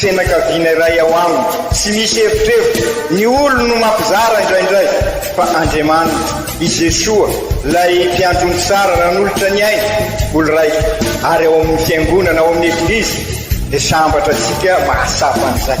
Fianakaviana iray ao aminy. Tsy misy erotrerotro, ny olony no mampizara indraindray, fa Andriamaniny, i Jesoa, ilay Mpiandry ny tsara nanolotra ny ainy ho lraiko, ary ao amin'ny Fiangonana, ao amin'ny Eglizy, dia sambatra antsika mahatsapa an'izay.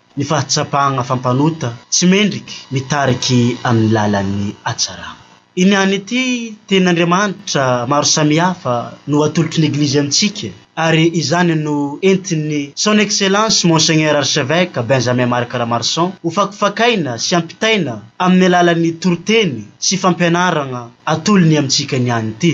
ny fahatsapana fa mpanota tsy mendrika mitarika amin'ny lalan'ny hatsarana. Iny ihany ity tenin'Andriamanitra maro samihafa no atolotry ny Eglizy amintsika ary izany no entin'ny Son Excellence Monseigneur Archevêque Benjamin Marc Ramarson hofakofakaina sy hampitaina amin'ny alalan'ny toriteny sy fampianarana atolony amintsika ny any ity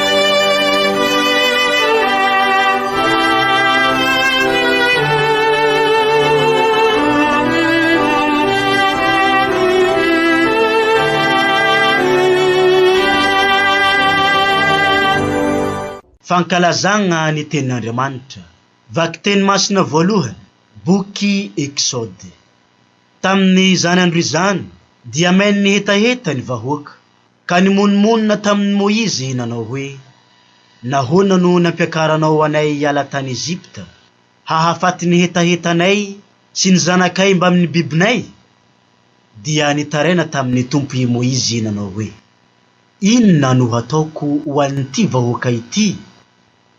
Fankalazagna ny Tenin'Andriamanitra, Vakiteny Masina Voalohany, Boky Eksôdy. Tamin'izany andro izany, dia main'ny hetaheta ny vahoaka. Ka nimonomonona tamin'i Moizy nanao hoe, Nahoana no nampiakaranao anay hiala tany Egypta, hahafaty ny hetahetanay sy ny zanakay mbamin'ny bibinay? Dia nitaraina tamin'ny Tompo i Moizy nanao hoe, Inona no hataoko ho an'ity vahoaka ity?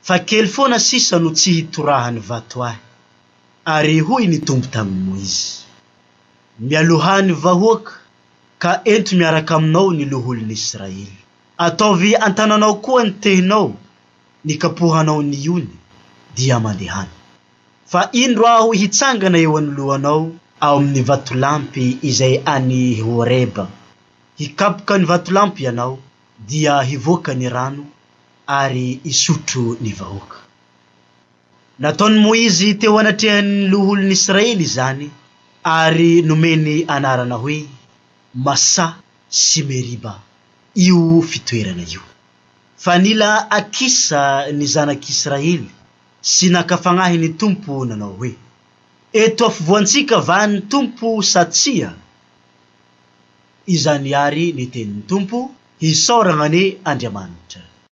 Fa kely foana sisa no tsy hitorahan'ny vato ahy. Ary hoy ny Tompo tamin'i Moizy, Mialohan'ny vahoaka Ka ento miaraka aminao ny loholon'Israely. Ataovy an-tananao koa ny tehinao nikapohanao ny ony, dia mandehana. Fa indro aho hitsangana eo anoloanao, ao amin'ny vatolampy izay any Horeba hikapoka ny vatolampy ianao dia hivoaka ny rano ary hisotro ny vahoaka. Nataon'i Moizy teo anatrehan'ny loholon'i Israely izany ary nomeny anarana hoe Masa sy Meriba io fitoerana io. Fa nila Akisa ny zanak'i Israely sy naka fagnahy ny Tompo nanao hoe, Eto afovoantsika va ny Tompo sa tsia? Izany àry ny tenin'ny Tompo, Hisaoragna anie Andriamanitra.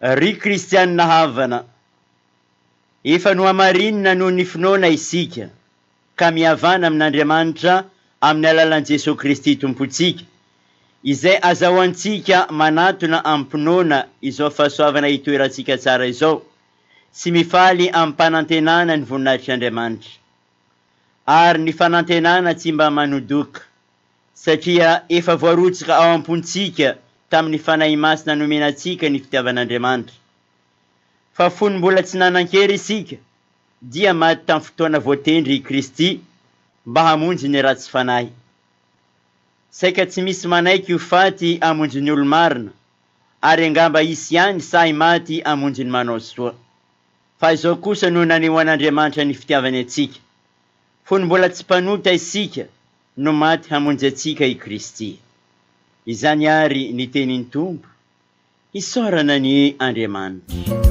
Ry kristianina havana, efa nohamarinina noho ny finoana isika, ka mihavana amin'Andriamanitra amin'ny alalan'i Jesoa Kristy Tompontsika, izay azahoantsika manatona amim-pinoana izao fahasoavana itoerantsika tsara izao, sy mifaly amim-panantenana ny voninahitr'Andriamanitra. Ary ny fanantenana tsy mba manodoka. Satria efa voarotsaka ao am-pontsika tamin'ny Fanahy Masina nomena antsika ny fitiavan'Andriamanitra. Fa fony mbola tsy nanan-kery isika, dia maty tamin'ny fotoana voatendry i Kristy mba hamonjy ny ratsy fanahy. Saika tsy misy manaiky ho faty hamonjy ny olo-marina, ary angamba hisy ihany sahy maty hamonjy ny manao soa. Fa izao kosa no nanehoan'Andriamanitra ny fitiavany antsika, fony mbola tsy mpanota isika, No maty hamonjy antsika i Kristy. Izany àry ny tenin'ny Tompo. Hisaorana ny Andriamanitra.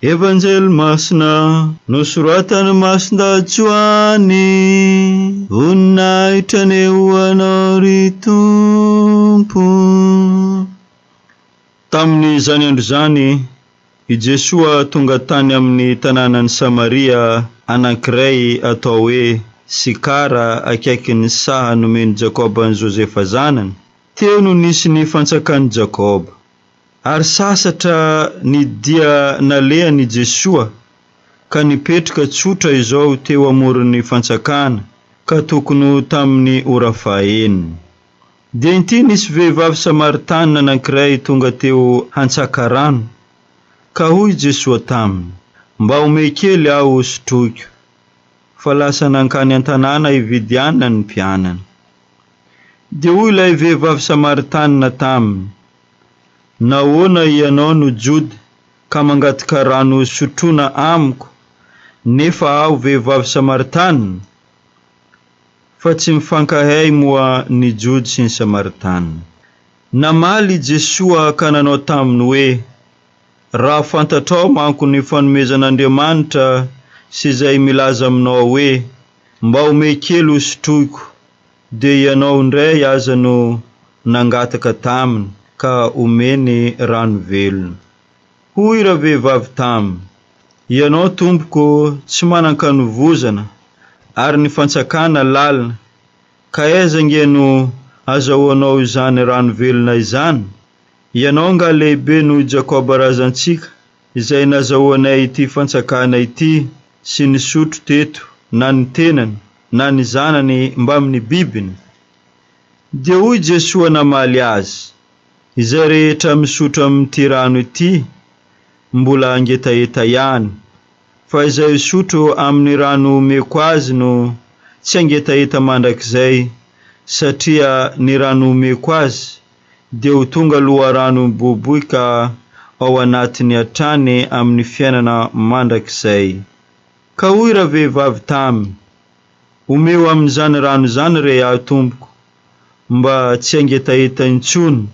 Evanjely Masina nosoratan'i Masindahatsoa any, Voninahitra anie ho Anao ry Tompo. Tamin'izany andro izany, i Jesoa tonga tany amin'ny tanànan'i Samaria anankiray atao hoe Sikara akaikin'ny saha nomen'i Jakoba an'i Josefa zanany. Teo no nisy ny fantsakan'i Jakoba. Ary sasatra ny dia nalehan' i Jesoa ka nipetrka tsotra izao teo amoron' ny fantsakana ka tokony ho tamin' ny ora fahaenina. Dia inty nisy vehivavy samaritana anankiray tonga teo hantsaka rano, ka hoy i Jesoa taminy, Mba omehy kely aho hosotroiko. Fa lasa nankany an-tanàna hividy anana ny mpianany. Dia hoy ilay vehivavy samaritana taminy, Nahoana ianao no Jody ka mangataka rano hosotroina amiko, nefa aho vehivavy Samaritana? Fa tsy mifankahay moa ny Jody sy ny Samaritana. Namaly i Jesoa ka nanao taminy hoe, Raha fantatrao manko ny fanomezan'Andriamanitra sy izay milaza aminao hoe, Mba omey kely hosotroiko, Dia ianao indray aza no nangataka taminy ka omeny rano velona. Hoy ravehivavy taminy, Ianao tompoko tsy manan-kanovozana ary ny fantsakana lalina, ka aiza ange no azahoanao izany rano velona izany? Ianao angaha lehibe noho i Jakoba razantsika? Izay nazahoanay ity fantsakana ity sy nisotro teto na ny tenany na ny zanany mbamin'ny bibiny? Dia hoy Jesoa namaly azy, Izay rehetra misotro amin'ity rano ity, mbola hangetaheta ihany, fa izay hisotro amin'ny rano homeko azy no tsy hangetaheta mandrakizay, satria ny rano homeko azy dia ho tonga loharano miboiboika ao anatiny hatrany amin'ny fiainana mandrakizay. Ka hoy ravehivavy taminy, Omeo amin'izany rano izany re aho, Tompoko, mba tsy hangetaheta intsony,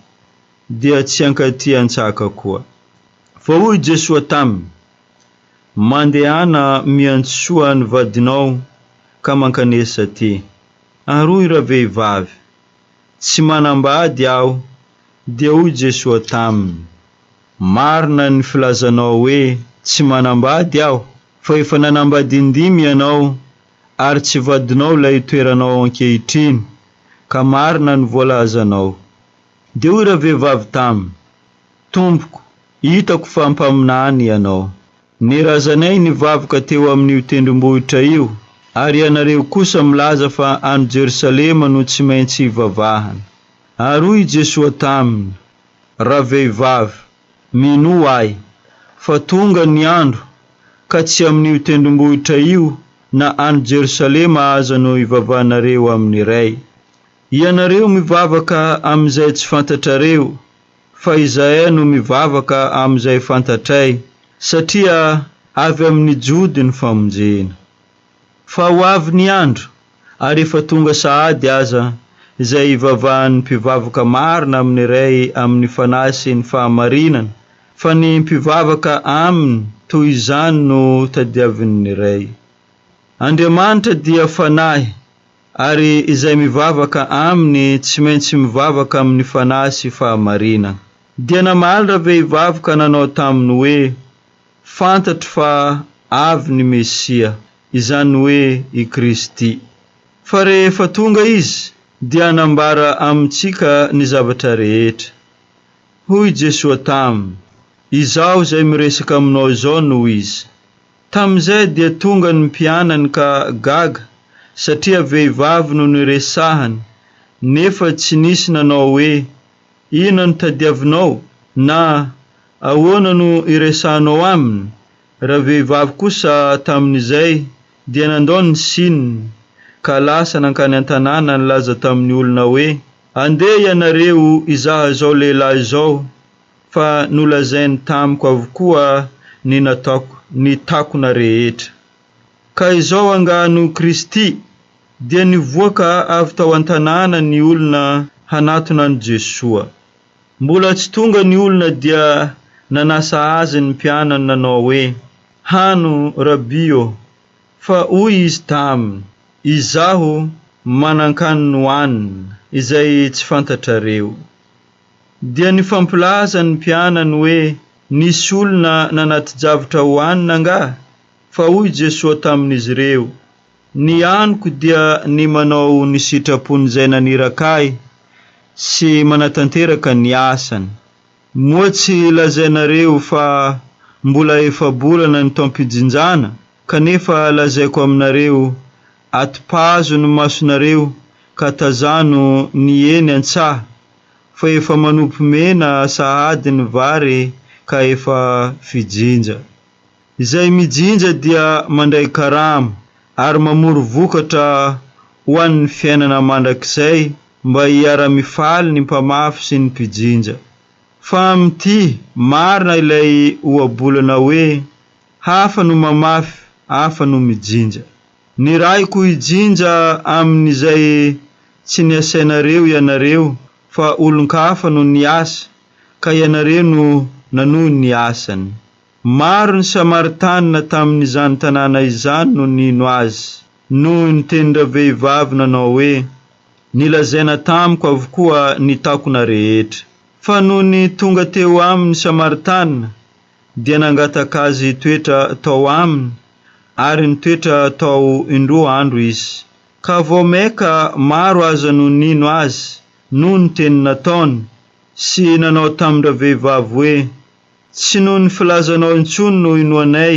dia tsy hankaty an-tsaka koa. Fa hoy Jesoa taminy, Mandehana miantsoa ny vadinao ka mankanesa aty. Ary hoy ravehivavy. Tsy manambady aho. Dia hoy Jesoa taminy, Marina ny filazanao hoe, Tsy manambady aho, fa efa nanambady indimy ianao, ary tsy vadinao ilay itoeranao ankehitriny, ka marina ny voalazanao. Dia hoy ravehivavy taminy, Tompoko, hitako fa mpaminany ianao, Ny razanay nivaboka teo amin'io tendrombohitra io, ary ianareo kosa milaza fa any Jerosalema no tsy maintsy hivavahana. Ary hoy i Jesoa taminy, Ravehivavy, minoa Ahy, fa tonga ny andro, ka tsy amin'io tendrombohitra io na any Jerosalema aza no hivavahanareo amin'ny Ray. Ianareo mivavaka amin'izay tsy fantatrareo. Fa izahay no mivavaka amin'izay fantatray, satria avy amin'ny Jody ny famonjena. Fa ho avy ny andro, ary efa tonga sahady aza, izay hivavahan'ny mpivavaka marina amin'ny Ray amin'ny Fanahy sy ny fahamarinana, fa ny mpivavaka Aminy toy izany no tadiavin'ny Ray. Andriamanitra dia Fanahy. Ary izay mivavaka Aminy tsy maintsy mivavaka amin'ny fanahy sy fahamarinana. Dia namaly ravehivavy ka nanao taminy hoe, Fantatro fa avy ny Mesia, izany hoe i Kristy. Fa rehefa tonga Izy, dia hanambara amintsika ny zavatra rehetra. Hoy Jesoa taminy, Izaho izay miresaka aminao izao no Izy. Tamin'izay dia tonga ny mpianany ka gaga satria vehivavy no niresahany nefa tsy nisy nanao hoe, Inona no tadiavinao? na Ahoana no iresahanao aminy? Ravehivavy kosa tamin'izay dia nandao ny sininy ka lasa nankany an-tanàna nilaza tamin'ny olona hoe, Andeha ianareo hizaha izao lehilahy izao Fa nolazainy tamiko avokoa ny nataoko, ny takona rehetra. Ka izao angaha no Kristy? Dia nivoaka avy tao an-tanàna ny olona hanatona an'i Jesoa. Mbola tsy tonga ny olona dia nanasa Azy ny mpianany nanao hoe, Hano, Rabbi ô! Fa hoy Izy taminy, Izaho manan-kanina hohanina, izay tsy fantatrareo. Dia nifampilaza ny mpianany hoe, Nisy olona nanati-javitra ho hanina angaha? Fa hoy Jesoa tamin'izy ireo, Ny haniko dia ny manao ny sitrapon'Izay naniraka Ahy sy manatanteraka ny asany. Moa tsy lazainareo fa mbola efa-bolana ny taom-pijinjana? Kanefa lazaiko aminareo, Atipazo ny masonareo ka tazano ny eny an-tsaha, fa efa manopy mena sahady ny vary ka efa fijinja. Izay mijinja dia mandray karama ary mamory vokatra ho an'ny fiainana mandrakizay mba hiara-mifaly ny mpamafy sy ny mpijinja. Fa amin'ity, marina ilay ohabolana hoe, hafa no mamafy, hafa no mijinja. Nirahiko hijinja amin'izay tsy niasainareo ianareo fa olon-kafa no niasa ka ianareo no nanohy ny asany. Maro ny Samaritanina tamin'izany tanàna izany no nino Azy noho ny tenin-dravehivavy nanao hoe, Nilazaina tamiko avokoa ny takona rehetra. Fa nony tonga teo Aminy Samaritanina, dia nangataka azy hitoetra tao aminy, ary nitoetra tao indroa andro izy. Ka vao mainka maro aza no nino azy noho ny teny nataony, sy nanao tamin-dravehivavy hoe, Tsy noho ny filazanao intsony no inoanay,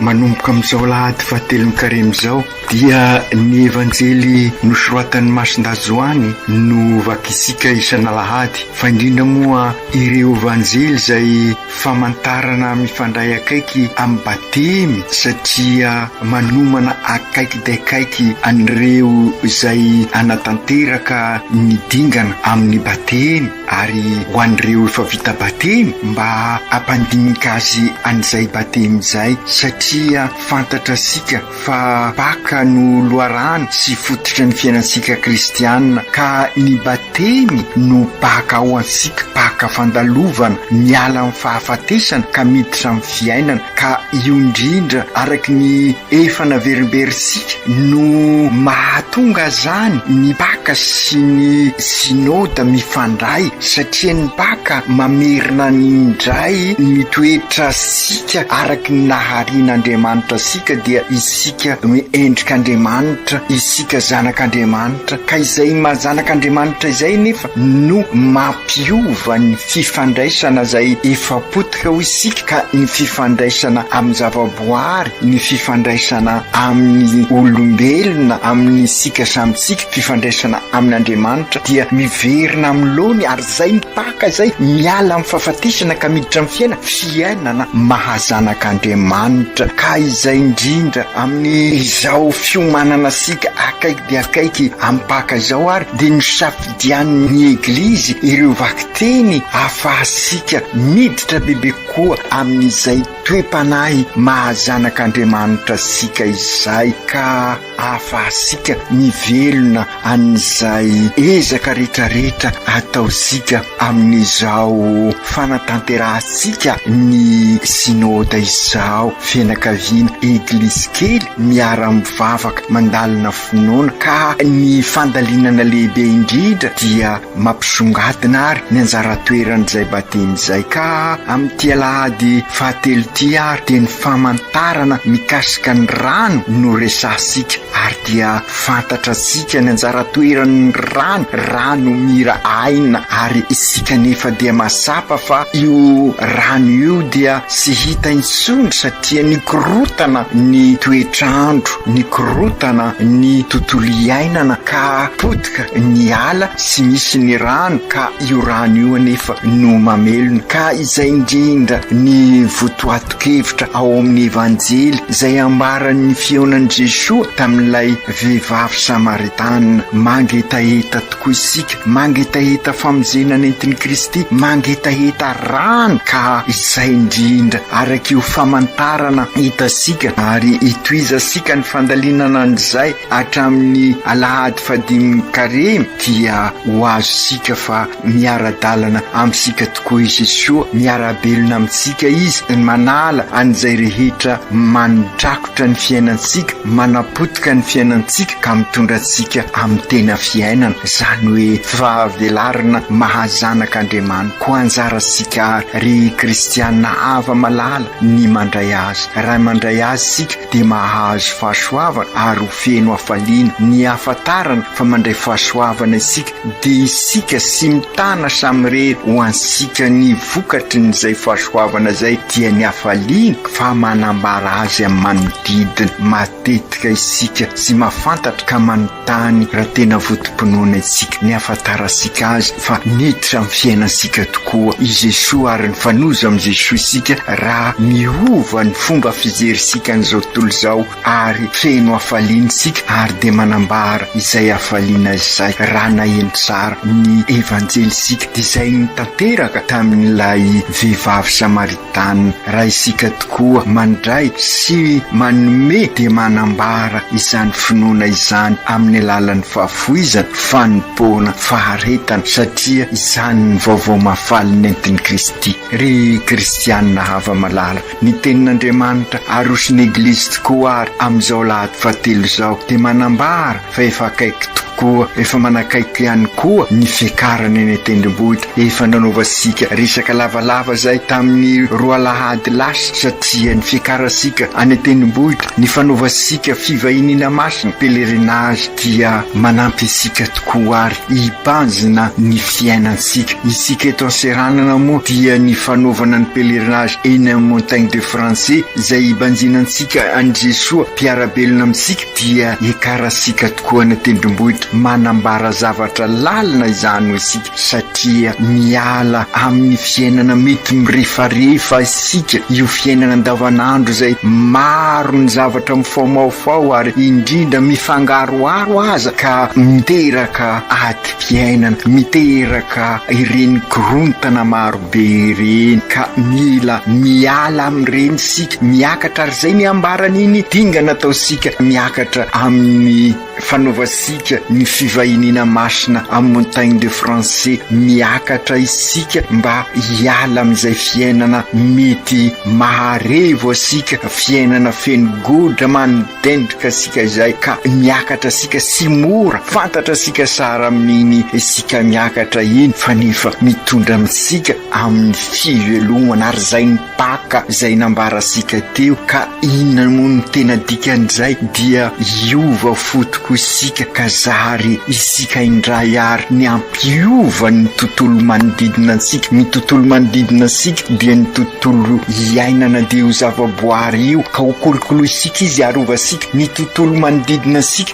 Manomboka amin'izao alahady fahatelon'ny karemy izao dia ny Evanjely nosoratan'i Masindahy Joany no vakintsika isan'alahady fa indrindra moa ireo Evanjely izay famantarana mifandray akaiky amin'ny Batemy satria manomana akaiky dia akaiky an'ireo izay hanatanteraka ny dingana amin'ny Batemy. Ary ho an'ireo efa vita batemy mba hampandinika azy an'izay batemy izay satria fantatra isika fa Paka no loharano sy fototry ny fiainantsika kristiana ka ny batemy no Paka ho antsika, Paka fandalovana miala amin'ny fahafatesana ka miditra amin'ny fiainana. Ka io indrindra araky ny efa naverimberintsika no mahatonga zany ny mpaka sy ny Synode mifandray satria ny mpaka mamerina ny indray ny toetra sika araky ny naharian' Andriamanitra sika dia isika endrik' Andriamanitra, isika zanak' Andriamanitra ka izay maha zanak' Andriamanitra izay nefa no mampiova ny fifandraisana zay efa pot Ka ho isika ka ny fifandraisana amin'ny zavaboary, ny fifandraisana amin'ny olombelona, amin'isika samy isika, fifandraisana amin'Andriamanitra dia miverina amin'ny laoniny ary izay mipaka izay, miala amin'ny fahafatesana ka miditra amin'ny fiaina, fiainana maha-zanak'Andriamanitra. Ka izay indrindra, amin'ny izao fiomanana isika akaiky dia akaiky amin'ny mpaka izao ary dia ny safidy Dianin'ny Eglizy ireo vakiteny ahafahantsika miditra bebe kokoa amin'izay toe-panahy maha-zanak'Andriamanitra antsika izay ka ahafahantsika mivelona an'izay ezaka rehetrarehetra ataontsika amin'izao fanatanterahantsika ny Synoda izao, fianakaviana, Eglizy kely miara-mivavaka mandalina fo. Noana ka ny fandalinana lehibe indrindra dia mampisongadina ary ny anjara toeran'izay batemy izay ka amin'ity alahady fahatelo ity ary dia ny famantarana mikasika ny rano no resahantsika ary dia fantatra antsika ny anjara toeran'ny rano rano mira aina ary isika nefa dia mahatsapa fa io rano io dia tsy hita intsony satria ny korotana ny toetr'andro Nikorontana ny tontolo iainana ka potika ny ala sy misy ny rano ka io rano io anefa no mamelona ka izay indrindra ny votoatin-kevitra ao amin'ny Evanjely izay ambaran'ny fihaonan'i Jesoa tamin'ilay vehivavy Samaritana mangetaheta Koa isika mangetaheta famonjena nentin'i Kristy, mangetaheta rany ka izay indrindra araka io famantarana hitasika ary hitohizasika ny fandalinana an'izay hatramin'ny alahady fahadimin'ny karemy dia ho azontsika fa miara-dalana amintsika tokoa i Jesoa, miara-belona amintsika Izy, manala an'izay rehetra manondraka. Mipoitra ny fiainantsika, manapotika ny fiainantsika ka mitondra antsika amin'ny tena fiainana, izany hoe fahavelarana maha-zanak' Andriamanitra. Koa anjarantsika àry, ry kristiana afa-malala, ny mandray azy. Raha mandray azy isika, dia mahazo fahasoavana ary ho feno hafaliana. Ny hahafantarana fa mandray fahasoavana isika, Dia isika sy mitana samirery ho antsika ny vokatry ny izay fahasoavana izay dia ny hafaliana fa manambara azy amin'ny manodidina matetika isika sy mahafantatra ka manontany raha tena votom-pinoana isika ny hahafantarantsika azy fa niditra amin'ny fiainantsika tokoa i Jesoa ary nifanojo amin'i Jesoa isika raha miova ny fomba fijerintsika an'izao tontolo izao ary feno hafaliana isika ary dia manambara izay hafaliana izay raha naheno tsara ny Evanjely isika dia izay nitanteraka tamin'ilay vehivavy Samaritana. Raha isika tokoa mandray sy manome dia manambara izany finoana izany amin'ny alalan'ny fahafoizana, fanompoana, faharetana satria izany ny vaovao mahafaly nentin'i Kristy. Ry kristiana hava-malala, Ny tenin'Andriamanitra aroson'ny Eglizy tokoa ary amin'izao lahady fahatelo izao dia manambara fa efa akaiky tokoa, efa manakaiky ihany koa ny fiakarany eny an-tendrombohitra. Efa nanaovantsika resaka lavalava izay tamin'ny roa alahady lasa satria ny fiakarantsika any an-tendrombohitra, ny fanaovantsika fivahiniana masina, pèlerinage, dia manampy antsika tokoa ary. hibanjina ny fiainantsika. Isika eto an-seranana moa dia ny fanaovana ny pèlerinage eny amin'ny Montagne de Francé izay hibanjina antsika an'i Jesoa mpiara-belona amintsika dia ekaratsika tokoa any an-tendrombohitra. Manambara zavatra lalina izany ho isika satria miala amin'ny fiainana mety mirefarefa isika. Isika, io fiainana andavanandro izay maro ny zavatra mifaomaofao ary indrindra mifangaroharo aza ka miteraka adim-piainana, miteraka ireny korontana marobe ireny ka mila miala amin'ireny isika, miakatra ary izay ny hambaran'iny dingana ataontsika miakatra amin'ny. Fanaovantsika ny fivahiniana masina amin'ny Montagnes de Francais miakatra isika mba hiala amin'izay fiainana mety maharevo antsika, fiainana feno godra manodendrika antsika izay ka miakatra antsika tsy mora, fantatra antsika sara amin'iny isika miakatra iny fa nefa mitondra amintsika amin'ny fivelomana ary izay ny. Paka izay nambarantsika teo, ka inona moa no tena dikan'izay? Dia hiova fo tokoa isika ka zary isika indray àry ny hampiova ny tontolo manodidina antsika. Ny tontolo manodidina antsika dia ny tontolo iainan'io zavaboary io, ka hokolokolointsika izy, harovantsika ny tontolo manodidina antsika.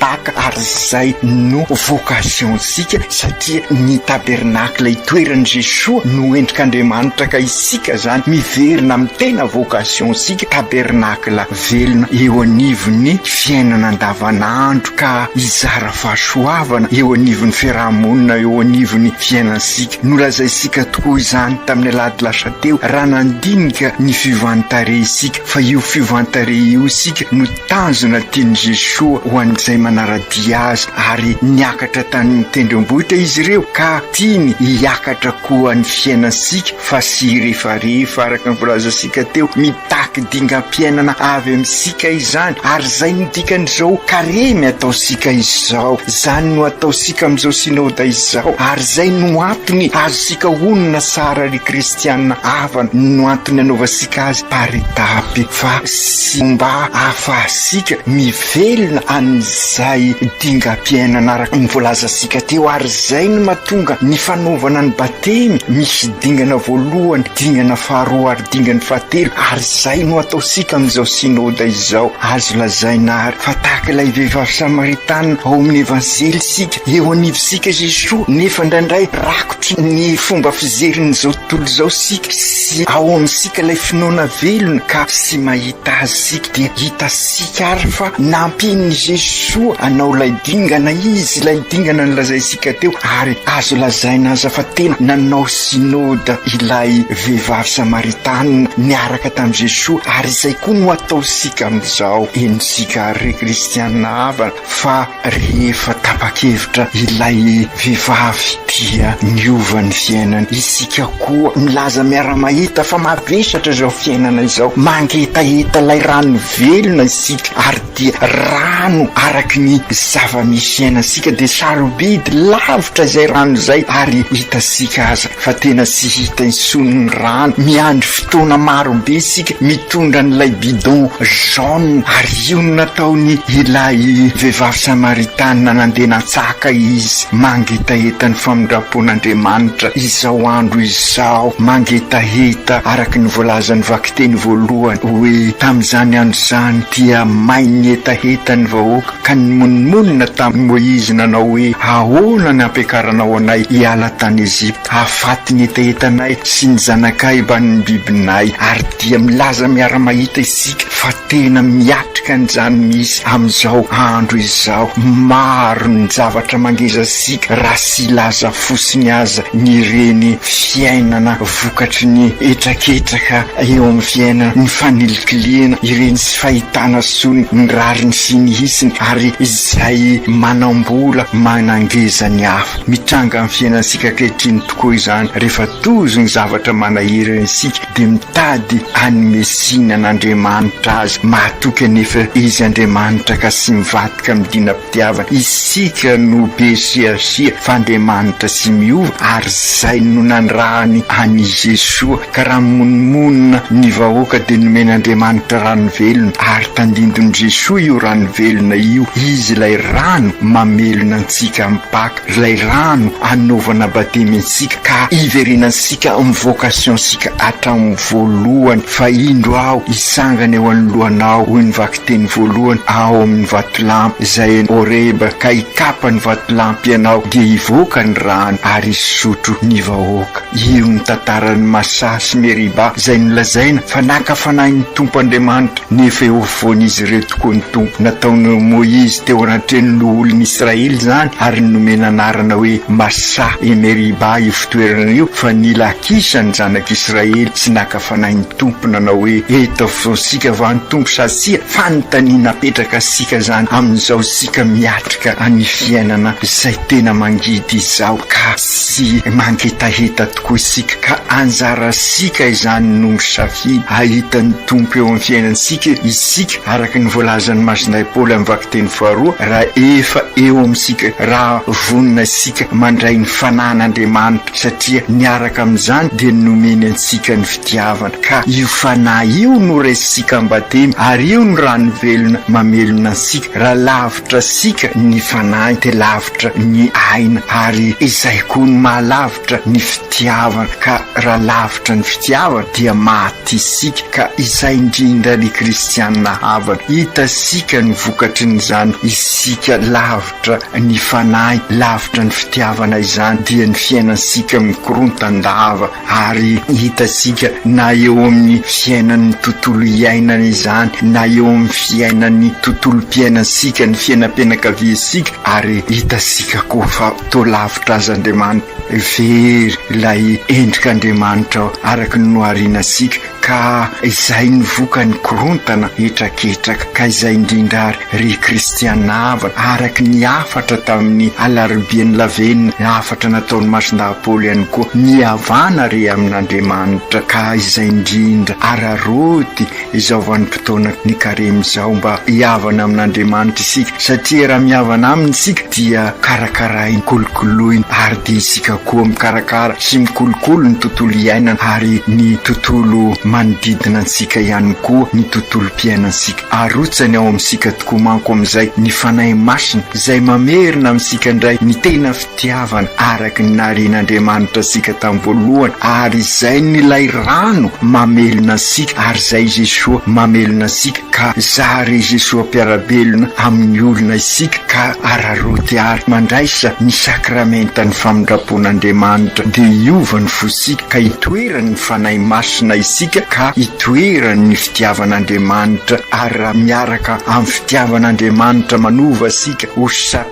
Paka ary izay no vocation-tsika satria ny tabernacle itoeran'i Jesoa no endrik'Andriamanitra ka isika izany miverina amin'ny tena vocation-tsika, tabernacle velona eo anivon'ny fiainana andavanandro ka hizara fahasoavana eo anivon'ny fiaraha-monina eo anivon'ny fiainantsika. Nolazaintsika tokoa izany tamin'ny alahady lasa teo raha nandinika ny fiovan-tarehy isika fa io fiovan-tarehy io isika no. Tanjona tian'i Jesoa ho an'izay manara-dia Azy ary niakatra tany an-tendrombohitra izy ireo ka tiany hiakatra koa ny fiainantsika fa tsy hirefarefa araka ny volazantsika teo, mitaky dingam-piainana avy amintsika izany ary izay no dikan'izao karemy ataontsika izao, izany no ataontsika amin'izao Synoda izao ary izay no antony azontsika honina tsara ry kristiana havana no antony anaovantsika azy par étapes fa sy mba hahafahantsika mivelona amin'izay dingam-piainana araka ny voalazantsika teo, ary izay no mahatonga ny fanaovana ny batemy misy dingana voalohany, dingana faharoa ary dingany fahatelo, ary izay no ataontsika amin'izao Synode izao. Azo lazaina àry fa tahaka ilay vehivavy Samaritana ao amin'ny Evanjely isika, eo anivontsika Jesoa, nefa indraindray rakotra. Tia ny fomba fijerin'izao tontolo izao isika sy ao amintsika ilay finoana velona ka tsy mahita azy isika dia hitantsika ary fa nampian'i Jesoa hanao ilay dingana Izy, ilay dingana nolazaintsika teo ary azo lazaina aza fa tena nanao Synode ilay vehivavy Samaritana niaraka tamin'i Jesoa ary izay koa no ataontsika amin'izao, henontsika ary ry Kristiana havana. fa rehefa tapa-kevitra ilay vehivavy dia niova ny fiainany, isika koa milaza miara-mahita fa mavesatra izao fiainana izao, mangetaheta ilay rano velona isika ary dia rano araky ny zava-misy iainantsika dia sarobidy lavitra izay rano izay ary hitantsika aza fa tena tsy hita intsony ny rano, miandry fotoana marobe isika mitondra an'ilay bidon jaune, ary io no nataony ilay vehivavy samaritanina nandeha natsaka izy, mangetaheta ny famindram-pon'Andriamanitra izao andro izao, mangetaheta araka ny voalazan'ny vakiteny voalohany hoe, tamin'izany andro izany dia main'ny hetaheta ny vahoaka, ka nimonomonona tamin'i Moizy nanao hoe, Ahoana ny hampiakaranao anay hiala tany Egypta, hahafaty ny hetahetanay sy ny zanakaiba ny bibinay? Ary dia milaza miara-mahita isika fa tena miatrika an'izany misy amin'izao andro izao. Maro ny zavatra mangeja antsika raha tsy hilaza fotsiny aza ny ireny fiainana vokatry ny hetraketraka eo amin'ny fiainana, ny fanilikilihana, ireny. fahitana soa ny rariny sy ny hitsiny ary izay manam-bola manangeza ny hafa. Mitranga amin'ny fiainantsika ankehitriny tokoa izany, rehefa tojo ny zavatra manahirana isika dia mitady hanome tsiny an'Andriamanitra azy. Mahatoky anefa izy Andriamanitra ka tsy mivadika amin'ny dina. Dia afaka isika no be siasia f'Andriamanitra tsy miova ary zay no nanirahany an'i Jesoa ka raha mimonomonona ny vahoaka dia nomen'Andriamanitra rano velona ary tandindon'i Jesoa io rano velona io izy ilay rano mamelona antsika amin'ny Paka ilay rano anaovana batemy antsika ka hiverenantsika amin'ny vocation-tsika hatramin'ny voalohany fa indro aho hitsangana eo anoloanao hoy ny dia ny voalohany ao amin'ny vatolampy izay eny Horeba, ka hikapa ny vatolampy ianao, dia hivoaka ny rano ary hisotro ny vahoaka. Io no tantaran'i Masà sy Meriba izay nolazaina fa naka fanahin'ny Tompo Andriamanitra, nefa eo afovoan'izy ireo tokoa ny Tompo. Nataon'i Moizy teo anatrehan'ny loholon'i Israely izany ary nomena anarana hoe Masà e Meriba io fitoerana io, fa nila Akisa ny zanak'Israely sy naka fanahin'i. Tompo nanao hoe eto afovoantsika va ny Tompo sa tsia? Fanontaniana apetraka sika zany amin'izao sika miatrika an'i fiainana izay tena mangidy izao ka tsy mangetaheta tokoa isika ka anjara sika izany no misafidy ahita ny Tompo eo amin'ny fiainantsika isika araka ny voalazan'i Masinahy Paoly amin'ny vakiteny faharoa raha efa eo amintsika raha vonona isika mandray ny Fanahin'Andriamanitra satria miaraka amin'izany dia nomeny antsika ny fitiavana, ka io Fanahy io no raisintsika am-batemy, ary io no rano velona mamelona antsika, raha lavitra antsika ny Fanahy dia lavitra ny aina, ary izay koa no maha-lavitra ny fitiavana, ka raha lavitra ny fitiavana dia maty isika, ka izay indrindra ry kristiana havana, hitasika ny vokatrin'izany, isika lavitra. Miakatra ny fanahy lavitra ny fitiavana izany dia ny fiainantsika mikorontan-dava ary hitantsika na eo amin'ny fiainan'ny tontolo iainana izany na eo amin'ny fiainan'ny tontolom-piainantsika ny fiainam-pianakaviantsika ary hitantsika koa fa toa lavitra azy Andriamanitra. Very ilay endrik'Andriamanitra araka ny nohariana antsika. Ka izay no vokany korontana hetraketraka ka izay indrindra ary ry kristiana ava araka ny hafatra tamin'ny alaribian'ny lavenona hafatra nataon'i Masindahy Paoly ihany koa ny havana re amin'Andriamanitra ka izay indrindra araraoty izao fotoana ny karemy izao mba hihavana amin'Andriamanitra isika satria raha mihavana aminy isika dia karakarainy, kolokoloiny ary dia isika koa mikarakara sy mikolokolo ny tontolo iainana ary ny tontolo manodidina antsika ihany koa ny tontolom-piainantsika. Arotsany ao amintsika tokoa manko amin'izay ny Fanahy Masina izay mamerina amintsika indray ny tena Tiavana araka ny naharian'Andriamanitra antsika tamin'ny voalohany, ary izay n'ilay rano mamelona antsika, ary izay i Jesoa mamelona antsika, ka zary i Jesoa mpiara-belona amin'ny olona isika, ka araraoty ary mandraisa ny Sakramentan'ny Famindram-pon'Andriamanitra, dia hiova ny fontsika, ka hitoeran'ny Fanahy Masina isika, ka hitoeran'ny fitiavan'Andriamanitra, ary raha miaraka amin'ny fitiavan'Andriamanitra manova antsika, ho.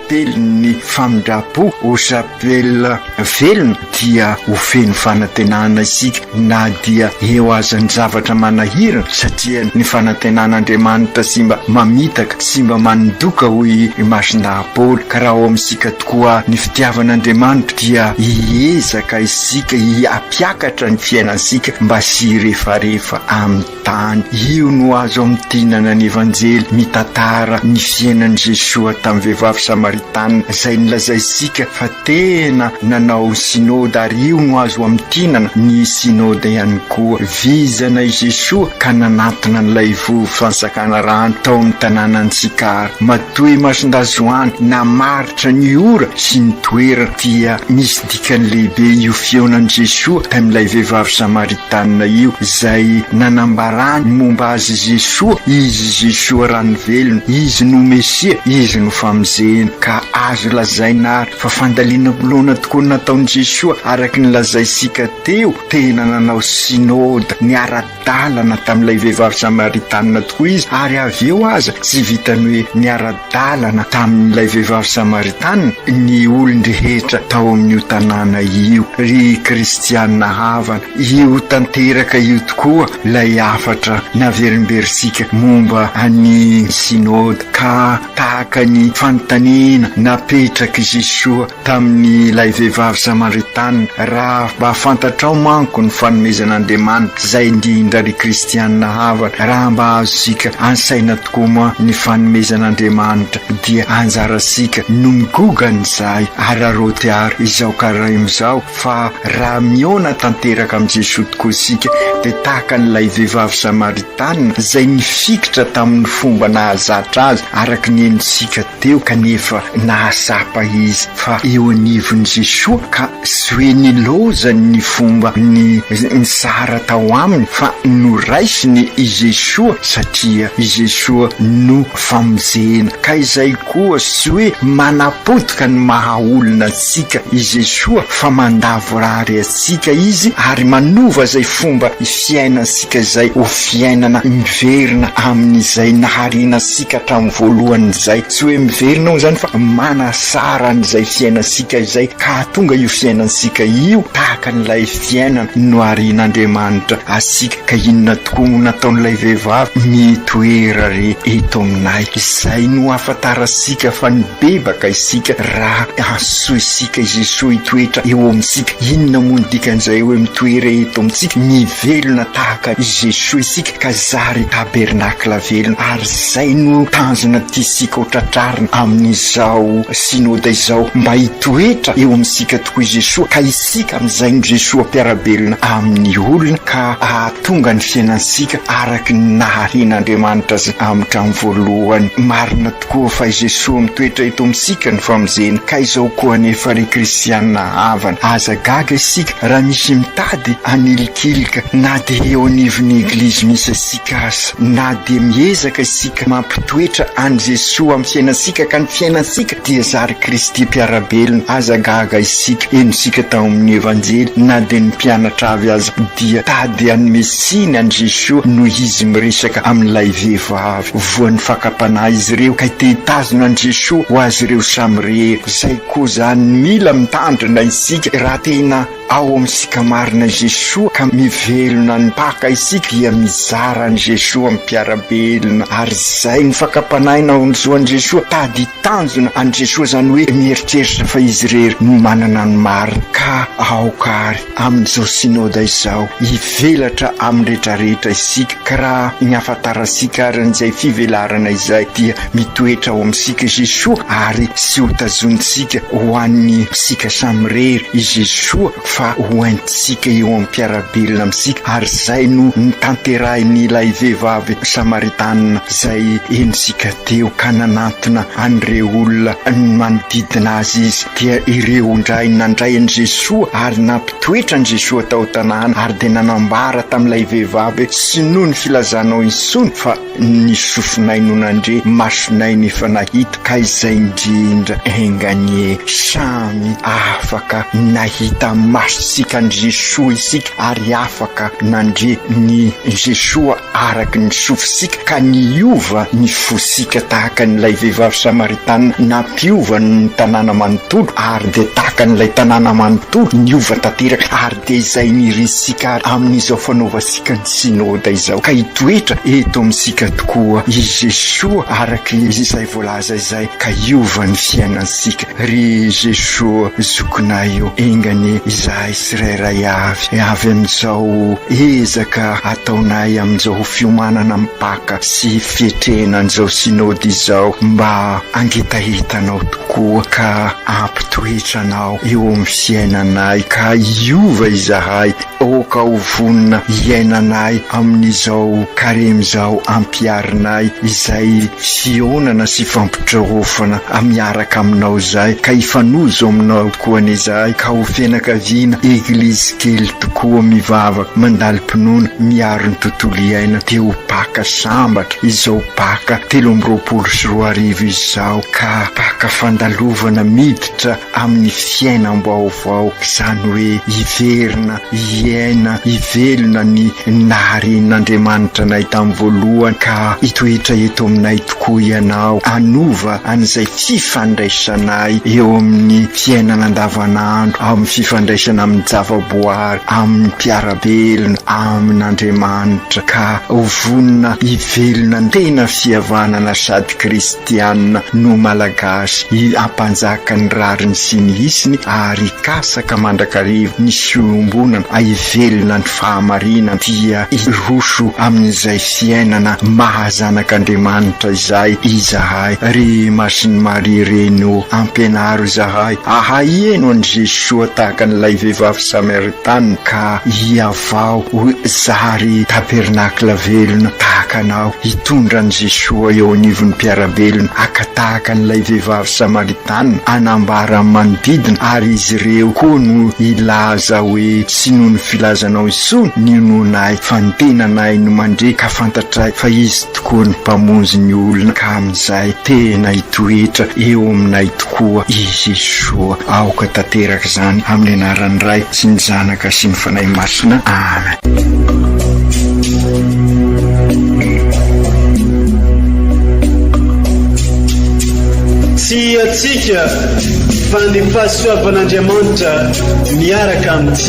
Telin'ny famindram-po ho chapelle velona dia ho feno fanantenana isika na dia eo aza ny zavatra manahirana satria ny fanantenan'Andriamanitra sy mba mamitaka sy mba manindoka hoy i Masina Paoly ka raha ao amintsika tokoa ny fitiavan'Andriamanitra dia hiezaka isika hiampiakatra ny fiainantsika mba sy hirefarefa aminy Tany io no azo amintinana ny Evanjely mitantara ny fiainan'i Jesoa tamin'ny vehivavy Samaritana izay nolazaintsika fa tena nanao ny Synoda ary io no azo amintinana ny Synoda ihany koa. Vizana i Jesoa ka nanantona an'ilay vovo fansakana rano tao amin'ny tanànan'i Sykar. Matoa imason-dahy Joany namaritra ny ora sy ny toerana dia misy Ka lehibe io fihaonan'i Jesoa tamin'ilay vehivavy Samaritanina io izay nanambarany ny momba Azy Jesoa, Izy Jesoa rano velona, Izy no Mesia, Izy no famonjena. Ka azo lazaina ary fa fandalinam-pinoana tokoa nataon'i Jesoa araka ny lazaintsika teo, tena nanao Synode, niara-. ara-dalana tamin'ilay vehivavy samaritanina tokoa izy, ary avy eo aza tsy vitan'ny hoe niara-dalana tamin'ilay vehivavy samaritanina ny olon-drehetra tao amin'io tanàna io. Ry kristiana havana, io tanteraka io tokoa ilay hafatra naverimberintsika momba an'i Synode, ka tahaka ny fanontaniana napetrak'i Jesoa, tamin'ilay vehivavy Samaritana, raha mba fantatrao manko ny fanomezan'Andriamanitra izay indrindra ry kristiana havana, raha mba azontsika an-tsaina tokoa moa ny fanomezan'Andriamanitra dia anjarantsika no migogany izahay araraoty ary izao karaimu izao fa raha mihaona tanteraka amin'i Jesoa tokoa isika dia tahaka an'ilay vehivavy Samaritana izay nifikitra tamin'ny fomba nahazatra azy araka ny henontsika Teo kanefa nahatsapa izy fa eo anivon'i Jesoa ka tsy hoe nilaozany ny fomba ny nitsara tao aminy fa noraisiny i Jesoa satria i Jesoa no famonjena ka izay koa tsy hoe manapotika ny maha olona antsika i Jesoa fa mandavorary antsika Izy ary manova izay fomba fiainantsika izay ho fiainana miverina amin'izay nahariana antsika antsika hatramin'ny voalohan'izay, tsy hoe miverina hono izany fa manasara an'izay fiainantsika izay ka hahatonga io fiainantsika io tahaka an'ilay fiainana noharian'Andriamanitra antsika. Ka inona tokoa moa no nataon'ilay vehivavy mitoera re eto aminay? Izay no hahafantarantsika fa nibebaka isika raha antsointsika i Jesoa hitoetra eo amintsika. Inona moa no dikan'izay hoe mitoera eto amintsika? Mivelona tahaka i Jesoa isika. ka zary tabernakla velona, ary izay no tanjona tiantsika ho tratrarina amin'izao Synoda izao, mba hitoetra eo amintsika tokoa i Jesoa, ka isika amin'izay no Jesoa mpiara-belona amin'ny olona, ka hahatonga ny fiainantsika araka ny naharian'Andriamanitra Azy hatramin'ny voalohany. Marina. Koa fa i Jesoa mitoetra eto amintsika no famonjeny ka izao koa anefa ry kristiana havana aza gaga isika raha misy mitady hanilikilika na dia eo anivon'ny eglizy misy antsika aza. Na dia miezaka isika mampitoetra an'i Jesoa amin'ny fiainantsika ka ny fiainantsika dia zary Kristy mpiara-belona aza gaga isika. Henontsika tao amin'ny Evanjely na dia ny mpianatra avy aza dia tady hanome tsiny an'i Jesoa noho izy miresaka amin'ilay vehivavy. Voan'ny fakam-panahy izy ireo kay te hitazona an'i Jesoa ho azy ireo samy rehetra. Izay koa izany mila mitandrina isika raha tena ao amintsika marina i Jesoa ka mivelona ny Paka isika dia mizara an'i Jesoa amin'ny mpiara-belona ary izay ny fakam-panahy naonjoan'i Jesoa tady hitanjona an'i Jesoa izany hoe mieritreritra fa izy irery no manana ny marina ka aoka ary Amin'izao Synoda izao, hivelatra amin'ny rehetra rehetra isika, ka raha ny hahafantarantsika ary an'izay fivelarana izay dia mitoetra ao amintsika Jesoa ary sy ho tazonintsika ho an'ny sika samirery i Jesoa fa ho haintsika eo amin'ny mpiara-belona amintsika ary izay no notanterahin'ilay vehivavy Samaritana izay henontsika teo ka nanantona an'ireo olona manodidina azy izy dia ireo indray nandray an'i Jesoa ary nampitoetra an'i Jesoa tao an-tanàna ary dia nanambara tamin'ilay vehivavy hoe, Tsy noho ny filazanao intsony fa ny sofinay no nandre, masonay no efa nahita, ka izay indrindra enga anie samy afaka nahita masontsika an'i Jesoa isika ary afaka nandre ny Jesoa. araka ny sofisika ka niova ny fosika tahaka an'ilay vehivavy Samaritana nampiova ny tanàna manontolo ary dia tahaka an'ilay tanàna manontolo niova tanteraka ary dia izay nirisika ary amin'izao fanaovantsika ny Synoda izao ka hitoetra eto amintsika tokoa i Jesoa araka izay voalaza izay ka hiova ny fiainantsika ry Jesoa zokinay o enga anie izahay tsirairay avy avy amin'izao ezaka ataonay amin'izao fiomanana mipaka sy fiatrehina an'izao Synode izao mba hangetaheta anao tokoa ka hampitoetra anao eo amin'ny fiainanay ka hiova izahay aoka ho vonona hiaina anay amin'izao Karemy izao ampiharinay izay Fihaonana sy fampitreofana miaraka aminao izahay ka hifanojo aminao koa anie izahay ka ho fianakaviana eglizy kely tokoa mivavaka mandalim-pinoana miaro ny tontolo iaina dia ho Paka sambatra izao Paka telo amby roapolo sy roa arivo izao ka Paka fandalovana miditra amin'ny fiainam-baovaok'izany hoe hiverina hiaina hivelona ny naharen'Andriamanitra anay tamin'ny voalohany ka hitoetra eto aminay tokoa Ianao, hanova an'izay fifandraisanay eo amin'ny fiainana andavanandro, amin'ny fifandraisana amin'ny javaboary, amin'ny mpiara-belona, amin'Andriamanitra ka ho vonona hivelona tena fihavanana sady Kristy. Tiana no Malagasy i Ampanjaka ny rariny sy ny hisiny ary hikasaka mandrakariva ny fiombonana hivelona ny fahamarinana dia hiroso amin'izay fiainana maha zanak'Andriamanitra izay izahay ry Masin'i Maria Reny ô! Ampianaro izahay ahay hihaino an'i Jesoa tahaka an'ilay vehivavy Samaritana ka hiha Vao ho zary tabernakla velona tahaka anao hitondra an'i Jesoa eo anivon'ny mpiara-belona haka tahaka an'ilay vehivavy Samaritana hanambara amin'ny manodidina ary izy ireo koa no hilaza hoe tsy noho ny filazanao intsony ny inoanay fa ny tenanay no mandre ka fantatray fa izy Koa ny Mpamonjy ny olona ka amin'izay tena hitoetra eo aminay tokoa i Jesoa. Aoka tanteraka izany amin'ny anaran'ny Ray sy ny Zanaka sy ny Fanahy Masina. Amen. Tsy hiatsika fa ny fahasoavan'Andriamanitra miaraka amintsika.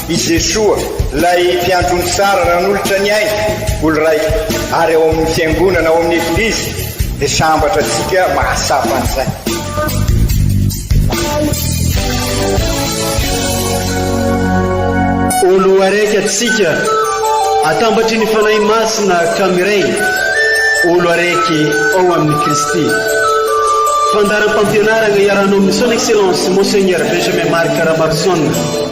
I Jesoa, ilay Mpiandry ony tsara nanolotra ny ainy, olo raika, ary ao amin'ny Fiangonana, ao amin'ny Eglizy, dia sambatra antsika mahatsapa an'izay. Olo araiky antsika, atambatry ny Fanahy Masina ka miray, olo araiky ao amin'i Kristy. Fandaharam-pampianarana iarahanao amin'i Son Excellence Monseigneur Benjamin Marc Ramarison.